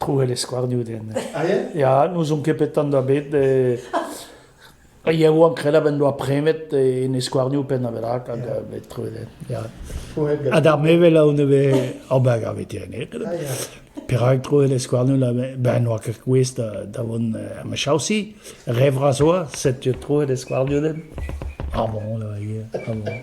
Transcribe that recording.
Trouel e skouarnioù den. Ah, yeah? Ya, n'ouzon ket petan da bet. E... Iaouank krelañ en doa premet en e skouarnioù pennaberak hag yeah. bet trouet den. Ya. Ha d'ar mevel a on bet ar bag ar veterineg. Ah, yeah. Perak trouet e skouarnioù la ben oa ket kouez da, da vont er mechaosi. Revra zoa, setu trouet e skouarnioù den. Ah bon, là, yeah. Ah bon.